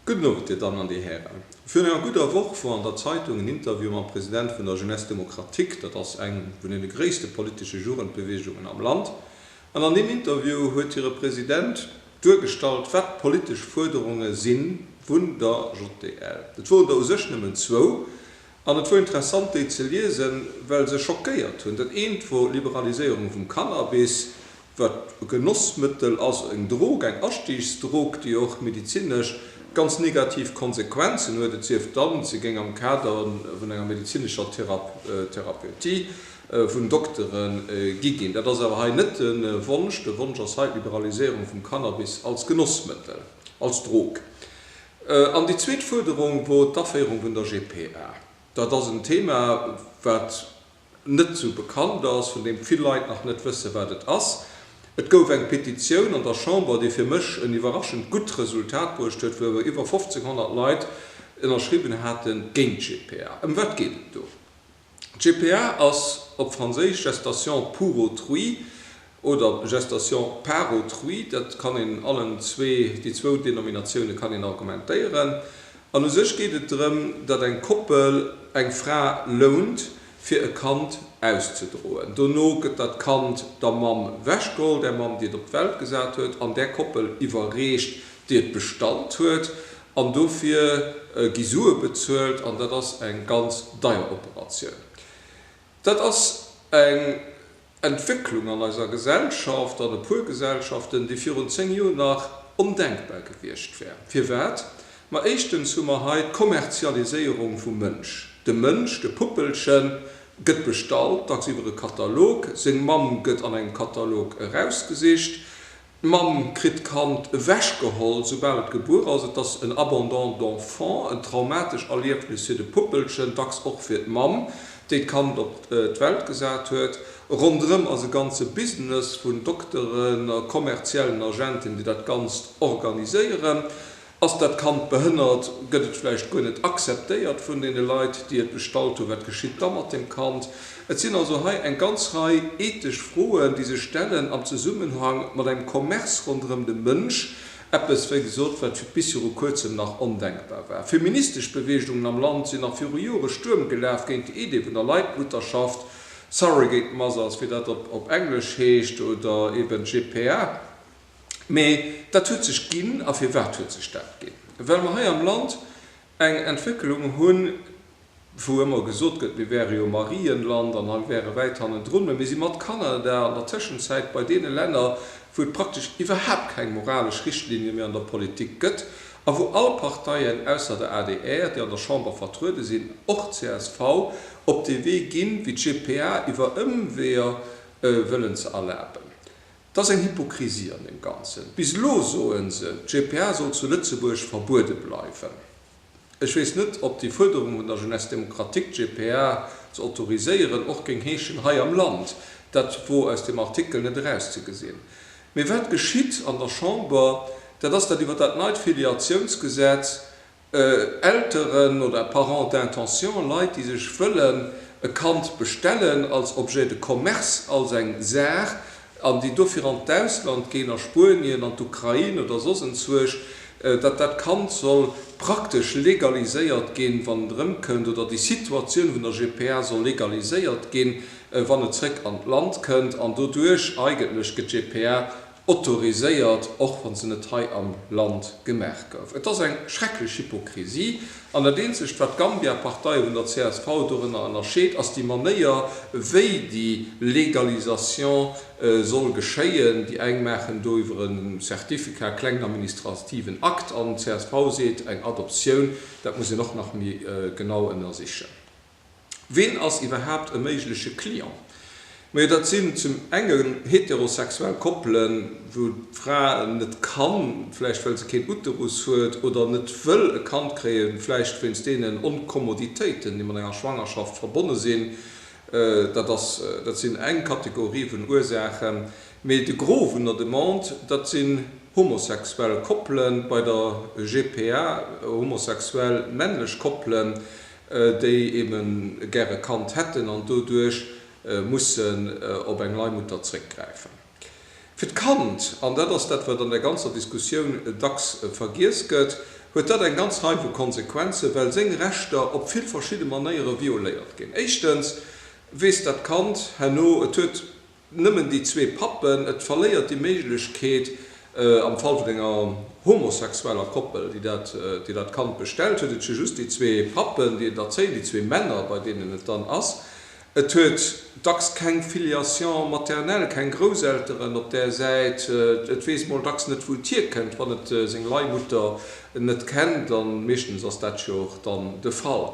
Gudden Owend, Dir Dammen an Dir Hären. Virun enger gudder Woch wor an der Zeitung en Interview mam President vun der Jeunesse démocratique, dat ass eng vun den gréisste politesche Jugendbewegungen am Land, an an deem Interview huet hire President duergestallt, wat d'politesch Fuerderunge si vun der JDL. Et woren der u sech nëmmen zwou, An et wor interessant déi ze liesen, well se schockéiert hunn. Dat eent wor Liberaliséierung vum Cannabis, wat e Genossmëttel ass, eng Drog, eng Astiigsdrog, déi och medizinesch ganz negativ Konsequenzen huet, et sief dann, se géing am Kader vun enger medizinescher Therapeutie vun Doktere gi ginn. Dat ass awer hei net de Wonsch. De Wonsch ass hei d'Liberaliséierung vum Cannabis als Genossmëttel, als Drog. An déi zweet Fuerderung wor d'Aféierung vun der GPA. Dat ass en Thema, wat net esou bekannt ass, vun deem vill Leit nach net wëssen, wat et ass. Et gouf eng Petitioun an der Chamber, déi fir mech en iwwerraschend gutt Resultat bruecht huet, wou iwwer 1500 Leit ënnerschriwwen haten, géint d'GPA. Ëm wat geet et do? GPA ass op Franséisch Gestation pour autrui oder Gestation par autrui, dat kann een allen zwee, déi zwou Denominatioune kann een argumentéieren. An u sech geet et drëm, datt eng Koppel eng Fra lount, fir e Kand auszedroen. Dono gëtt dat Kand der Mamm wechgeholl, där Mamm, déi et op d'Welt gesat huet, an där Koppel iwwerreecht, déi et bestallt huet. An dofir gi Sue bezuelt an dat ass eng ganz deier Operatioun. Dat ass eng Entwécklung an eiser Gesellschaft, an e puer Gesellschaften, déi virun zéng Joer nach ondenkbar gewiescht wär. Firwat? Ma éischtens hu mer hei d'Kommerzialiséierung vum Mënsch. De Mënsch, de Puppelche gëtt bestallt, dacks iwwer e Katalog, seng Mamm gëtt an engem Katalog erausgesicht, D'Mamm kritt d'Kand ewechgeholl, soubal et gebuer ass. Et ass en Abandon d'enfant, en traumatesch Erliefnis fir de Puppelchen, dacks och fir d'Mamm, déi d'Kand op d'Welt gesat huet. Ronderëm ass e ganze Business vun Dokteren a kommerziellen Agenten, déi dat Ganzt organiséieren. Ass dat Kand behënnert? Gëtt et vläicht guer net akzeptéiert vun deene Leit, déi et bestallt hunn? Wat geschitt da mat dem Kand? Et sinn also hei eng ganz Rei ethesch Froen, déi sech stellen am Zesummenhang mat engem Commerce ronderëm de Mënsch, eppes, wéi gesot, wat bis viru Kuerzem nach ondenkbar war. Feministesch Beweegungen am Land sinn nach viru Jore Stuerm gelaf géint déi Idee vun der Leitmutterschaft, Surrogate Mothers, wéi dat op Englesch heescht, oder eben GPA. Mä dat huet sech ginn. A firwat huet sech dat ginn? Well mer hei am Land eng Entwécklung hunn, wou ëmmer gesot gëtt, mir wäre jo e Marienland an hei wäre wäit hannendrun, mä mir si mat Kanada an der Tëschenzäit bei deene Länner, wou et praktesch iwwerhaapt keng moralesch Richtlinie méi an der Politik gëtt a wou all Parteien, ausser der adr, déi an der Chamber vertruede sinn, och d'CSV, op dee Wee ginn, wéi d'GPA iwwer Ëmweeër wëllen ze erlaben. Et ass eng Hypokrisie an deem Ganzen. Bis elo soe se, d'GPA soll zu Lëtzebuerg verbuede bleiwen. Ech weess net, ob déi Fuerderung vun der Jeunesse démocratique, d'GPA ze autoriséieren, och géing heeschen hei am Land. Dat wor aus deem Artikel net erauszegesinn. Mee wat geschitt an der Chamber, dat ass dat iwwert dat neit Filiatiounsgesetz, Elteren oder Parents d'intention, Leit, déi sech wëllen e Kand bestellen als Objet de commerce, als eng Saach, an déi dofir an d'Ausland ginn, a Spuenien, an d'Ukrain oder soss entzwuerg, datt dat Kand soll praktesch legaliséiert ginn, wann et erëmkënnt, oder déi Situatioun vun der GPA soll legaliséiert ginn, wann et zrëck an d'Land kënnt, an doduerch eigentlech gëtt d'GPA autoriséiert, och wann se net hei am Land gemaach gouf. Et ass eng schrecklech Hypokrisie. An dat eenzegt, wat d'Gambia, Partei vun der csv, dorënner ënnerscheet, ass déi Manéier, wéi déi Légalisation soll geschéien. Déi eng maachen do iwwer e Certificat, klengen administrativen Akt, an d'CSV seet, eng Adoptioun, dat muss een och nach méi genau ënnersichen. Ween ass iwwerhaapt e méigleche Client? Majo dat sinn zum engen heterosexuell Koppelen, wou d'Fra net kann, vläicht well se keen Uterus huet, oder net wëll e Kand kréien, vläicht wéinst deenen Onkommoditéiten, déi mat enger Schwangerschaft verbonne sinn. Dat ass, dat sinn eng Kategorie vun Ursaachen. Mee de Gros vun der Demande, dat sinn homosexuell Koppelen bei der GPA, homosexuell männlech Koppelen. déi eben gäre e Kand hätten an doduerch mussen op eng Leihmutter zréckgräifen. Fir d'Kand, an dat ass dat wat an der ganzer Diskussioun dacks vergiess gëtt, huet dat eng ganz Rei vu Konsequenzen, well seng Rechter op vill verschidde Manéiere violéiert ginn. Éischtens weess dat Kand herno, et huet Nëmmen déi zwee Pappen. Et verléiert déi Méiglechkeet, am Fall vun enger homosexueller Koppel, déi dat, déi dat Kand bestellt, huet et jo just déi zwee Pappen, déi et erzéien, déi zwee Männer, bei deenen et dann ass. Et huet dacks keng Filiation maternelle, keng Grousselteren op där Säit. Et weess mol dacks net, wou et hierkënnt, wann et seng Leihmutter net kennt, a meeschtens ass dat jo och dann de Fall.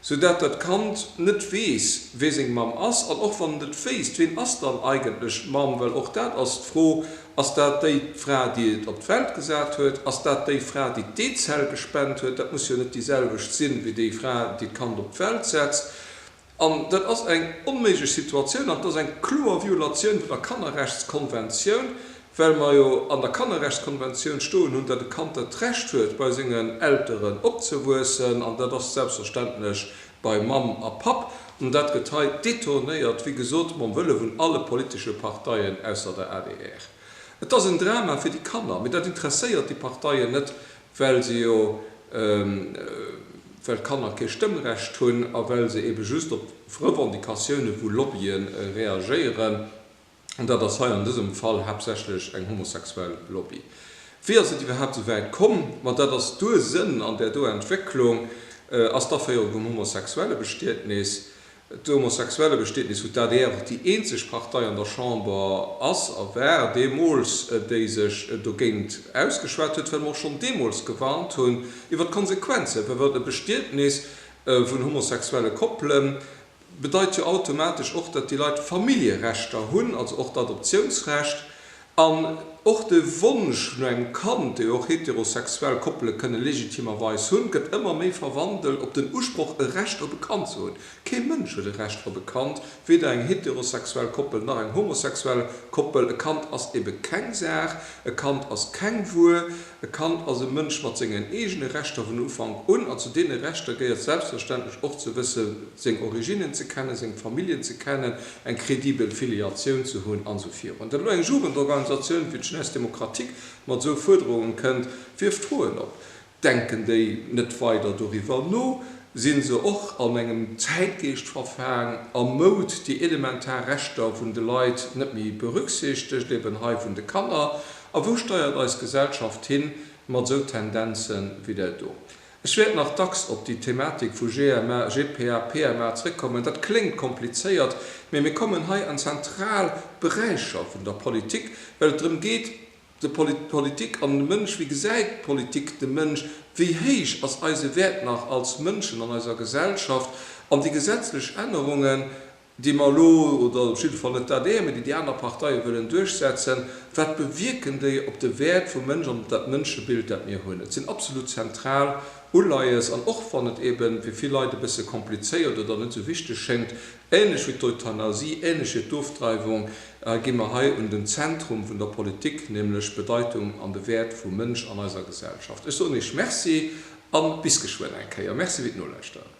sou dat dat Kand net weess, wee seng Mamm ass, an och wann et et wéisst, ween ass dann eigentlech d'Mamm? Well och dat ass d'Fro, Ass dat déi Fra, déi et op d'Welt gesat huet? Ass dat déi Fra, déi d'Eezell gespent huet? Dat muss jo net déi selwecht sinn, wéi déi Fra, déi d'Kand op d'Welt setzt. An dat ass eng onméiglech Situatioun an et ass eng kloer Violatioun vun der Kannerrechtskonventioun, Well mer jo an der Kannerrechtskonventioun stoen hunn, datt e Kand dat Recht huet, bei sengen Elteren opzewuessen, an dat ass selbstverständlech bei Mamm a Papp, an dat gëtt hei détournéiert, wéi gesot, mam Wëlle vun alle politesche Parteien ausser der adr. Et ass en Drama fir déi Kanner, mee dat interesséiert déi Parteien net, well se jo, well d'Kanner kee Stëmmrecht hunn a well se eebe just op Revendicatiounen, wou Lobbyen reagéieren, an dat ass hei an dësem Fall haaptsächlech eng homosexuell Lobby. Wéi ass et iwwerhaapt esou wäit komm? Ma dat ass d'Ursënn an där do Entwécklung. Ass d'Aféierung vum Homosexuellebestietnis, d'Homosexuellebestietnis, wou d'ADR och déi eenzeg Partei an der Chamber ass a war deemools, déi sech dogéint ausgeschwat huet, well mer och schonn deemools gewarnt hunn iwwer d'Konsequenzen, well wann e Bestietnis vun homosexuelle Koppelen, bedeit jo automatesch och, datt déi Leit Familljerechter hunn, also och d'Adoptiounsrecht an och de Wonsch no engem Kand, dee jo och heterosexuell Koppele kënne legitimerweis hunn, gëtt ëmmer méi verwandelt op den Usproch, e Recht op e Kand ze hunn. Kee Mënsch huet e Recht op e Kand, weder eng heterosexuell Koppel nach eng homosexuell Koppel. E Kand ass ebe keng Saach, e Kand ass keng Wuer. E Kand ass e Mënsch mat sengen eegene Rechter vun Ufank un, an zu deene Rechter gehéiert selbstverständlech och ze wësse seng Originnen ze kennen, seng Familljen ze kennen, eng kredibel Filiatioun ze hunn an esou virun. Datt elo eng Jugendorganisatioun wéi d'Jeunesse démocratique mat esou Fuerderungen kënnt, wierft Froen op. Denken déi net weider doriwwer no? Sinn se och an engem Zäitgeescht verfaang a moud, déi elementar Rechter vun de Leit net méi berücksichtegt, eben hei vun de Kanner? A wou steiert eis Gesellschaft hin mat esou Tendenzen wéi där do? Ech wäert nach dacks op déi Thematik vu GMA, GPA, PMA zréckkommen. Dat kléngt komplizéiert, mee mir kommen hei an zentral Beräicher vun der Politik, well et drëm geet, d'Politik an de Mënsch, wéi gesäit d'Politik de Mënsch, wéi héich ass eise Wäert nach als Mënschen an eiser Gesellschaft? An déi gesetzlech Ännerungen, déi mer elo, oder op jidde Fall net dat Eeër, mee déi déi aner Parteie wëllen duerchsetzen, wat bewierken déi op de Wäert vum Mënsch an op dat Mënschebild, dat mir hunn? Et sinn absolut zentral Uleies. An och wann et eebe fir vill Leit e bësse komplizéiert oder net esou wichteg schéngt, ähnlech wéi d'Euthanasie, ähnlech wéi d'Ofdreiwung, gi mer hei un den Zentrum vun der Politik, nämlech d'Bedeitung an de Wäert vum Mënsch an eiser Gesellschaft. Ech soen Iech Merci a bis geschwënn eng Kéier. Merci fir d'Nolauschteren.